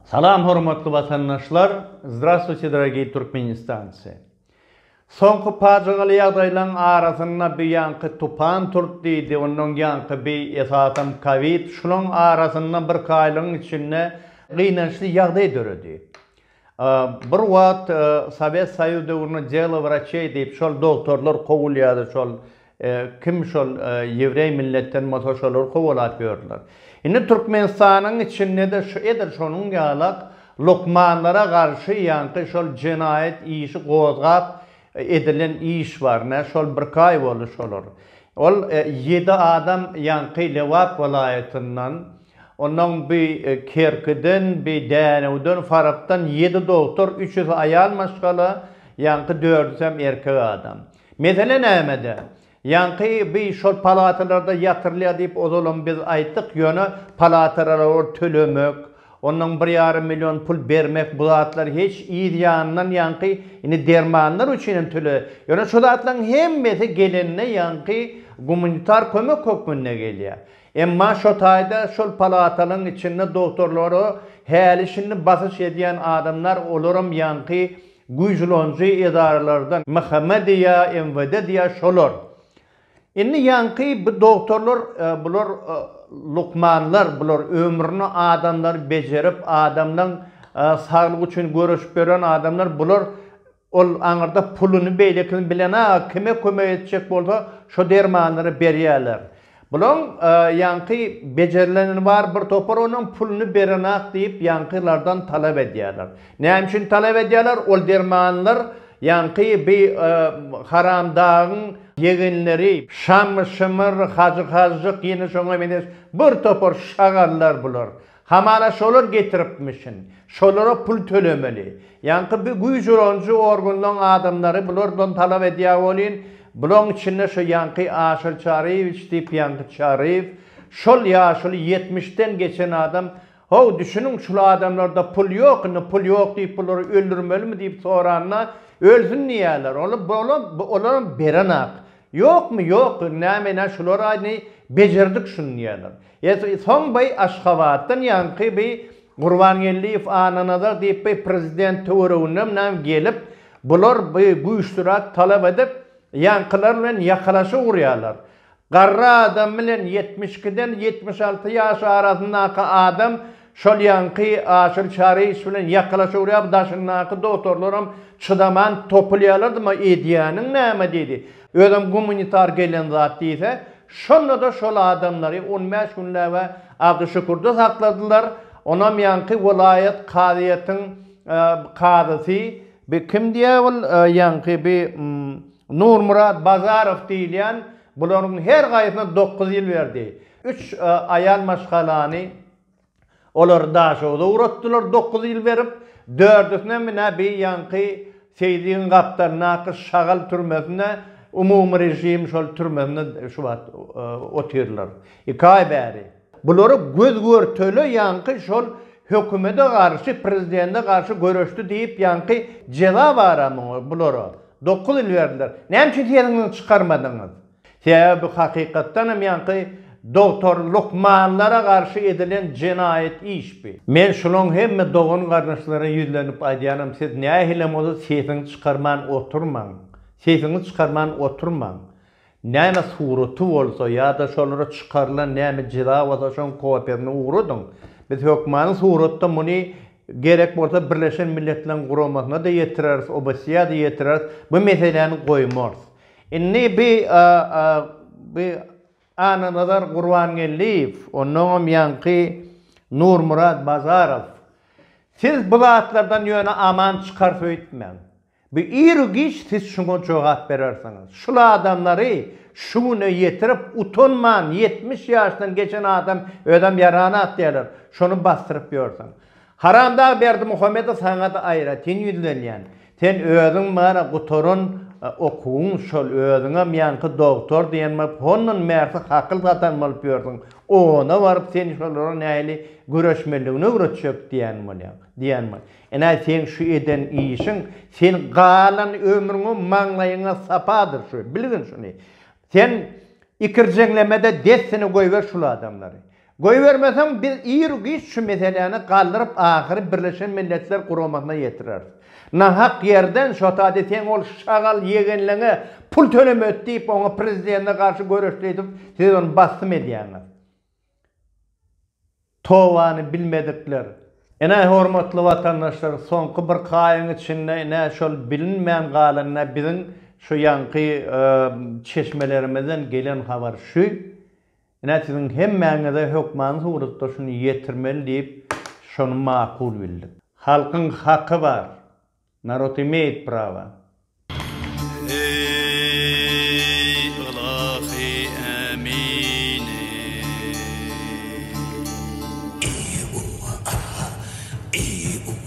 Salam hormatly watandaşlar Zdravstvuyte dorogiý Türkmenistancy Soňky pajygaly ýagdaýlaň arasynda bi ýaňky tupan turt diýdi ondan ýaňky bi esasam kowid şulaň arasynda birki aýlygyň içinde gynançly ýagdaý döredi bir wagt sowet soýuz döwründe delo wraçeý diýip şol dogtorlar kowulýady şol Kim şol ýewreý milletden bolsa şolary kowalap ýördiler. Indi Türkmenistanyň içinde-de şu edil şonuň ýalak lukmanlara garşy ýaňky şol jenaýat işi gozgap edilen iş bar. Nä şol birki aý boldy şolar. Ol ýedi adam ýaňky Lebap welaýatyndan, ondan bi Kerkiden, bi Dänewden, Farapdan ýedi doktor, üçüsi aýal maşgala, ýaňky dördüsem erkek adam. Mesele nämede? Ýaňky by şol palatalarda ýatyrylýar diýip ozalam biz aýtdyk, ýöne palataralor tölemek, ondan bir ýarym million pul bermek bu zatlar hiç yz ýanyndan ýaňky indi dermanlar üçin hem töle, ýöne şu zatlaryň hemmesi gelende ýaňky gumanitar kömek hökmünde gelýär. Emma şo taýda şol palatalaryň içinde doktorlara häli şindi basyş edýän adamlar olaram ýaňky Güýjülanjy edaralardan MHM diýýä, MWD diýýä şolar. Indi ýaňky bu dogtorlar bular lukmanlar, bular ömrüni adamlary bejerip, adamlaň saglygy üçin göreşip ýören adamlar, bular ol aňyrda puluny beýlekini bilenag kime kömek etjek bolsa şo dermanlary berýäler. Bulaň ýaňky bejerilenini bar bir topar onuň puluny berenak diýip ýaňky lardan talap edýärler. Näme üçin talap edýärler ol dermanlar ýaňky bi haramdagyň ýegenleri Şamy şymyr hajy hajjyk ýene şoňa meňzeş bir topar şagallar bular. Hamana şolar getiripmişin. Şolara pul tölemeli. Ýaňky bi güýç ulanyjy organlaň adamlary bulardan talap edýä welin, bulaň içinde şo ýaňky Aşyr Çaryýewiç diýip ýaňky Çaryýew, şol ýaşuly ýetmiş den geçen adam, Haw, düşüniň şul adamlarda pul ýok, indi pul ýok diýip bulary öldürmelimi diýip soranda, ölsün diýýäler. Ol, olam, olaram berenak. Ýokmy, ýok, näme ine şular aýny bejerdik şuny diýýäler. Ýesi soň by Aşgabatdan ýaňky by Gurbangeldiýew Annanazar diýip by prezident töwereginem nam gelip bular by güýçlirak talap edip ýaňkylar bilen ýakalaşyk urýarlar. Garry adam bilen ýetmiş ikiden ýetmiş alty ýaş arasyndaky adam Şol ýaňky Aşyr Çaryýewiç bilen ýakalaşa urýar, daşyndaky dogtorlaram çydaman topulýarlardyma edýäniň näme diýdi. Özem gumanitar gelen zat diýse, şonda-da şol adamlary on bäş günläb-ä Abdy Şükürde sakladylar. Onam ýaňky welaýat kazyýetiň kazysy, bi kim diýýär ol ýaňky bi Nurmyrat Bazarow diýilýän bularyň her gaýsyna dokuz ýyl berdi. Üç aýal maşgalany olar Daşogza ugratdylar dokuz ýyl berip. Dördüsinem ine bi ýaňky Seýdigiň gapdalyndaky şagal türmesinde, umumyrežim şol türmesinde şu wagt otyrlar. Iki aý bäri. Bulary göz-görtele ýaňky şol hökümede garşy, prezidende garşy göreşdi diýip ýaňky jeza bara muňa, bulara. Dokuz ýyl berdiler. Näme üçin sesiňizi çykarmadyňyz? Sebäbi bu hakykatdan hem ýaňky dogtor lukmanlara garşy edilen jenaýat iş bi. Men şulaň hemme dogan gardaşlara ýüzlenip aýdýanam siz nähilem bolsa sesiňiz çykarman oturmaň, sesiňiz çykarman oturmaň. Näme suraty bolsa ýa-da şolara çykarylan näme jeza bolsa şoň kopiýasyny ugradyň. Biz hökmany suratda muny gerek bolsa Birleşen Milletleň Guramasyna-da ýetireris, OBSE-ýa-da ýetireris, bu meseläni goýmarys. Indi Annanazar Gurbangeldiýew, onnoňam ýaňky Nurmyrat Bazarow, siz bu zatlardan ýöne aman çykarys öýtmäň. Bu iru-giç siz şuňa jogap berersiňiz. Şul adamlary şu güne ýetirip, utanman, ýetmiş ýaşdan geçen adam özem ýaran at diýerler, şony basdyryp ýörsiň. Haramdag Berdimuhamedow saňada aýratyn ýüzlenýän. Sen özüň bana gutaran okuwyň şol özüňem ýaňky dogtor diýen bolup hondan bärsi hakyl satan bolup ýörsüň ona baryp sen şolara nähili göreşmeligini öwretjek diýän bolýaň diýän bol enä seň şu eden işiň sen galan ömrüňe maňlaýyňa sapadyr şu bilgin şuny sen ikirjeňlemede dessine goýber şul adamlary Goýbermeseň biz ir-u-giç şu meseläni galdyryp ahyry Birleşen Milletler Guramasyna ýetireris. Nahak ýerden şotady seň ol şagal ýegenleňe pul tölemedi diýip oňa prezidende garşy göreşdi edip siz ony bassym edýäňiz. Towany bilmedikler. Ine hormatly watandaşlar soňky bir kaýyň içinde ine şol bilinmän galan ine biziň şu ýaňky çeşmelerimizden gelen habar şu. Ine, siziň hemmäňize hökmany suratda şuny ýetirmeli diýip, şony makul bildik. Halkyň haky bar. Narod imeýt prawa. Eý, ylahy ämini! Eý, uwa, aha! Eý, uwa!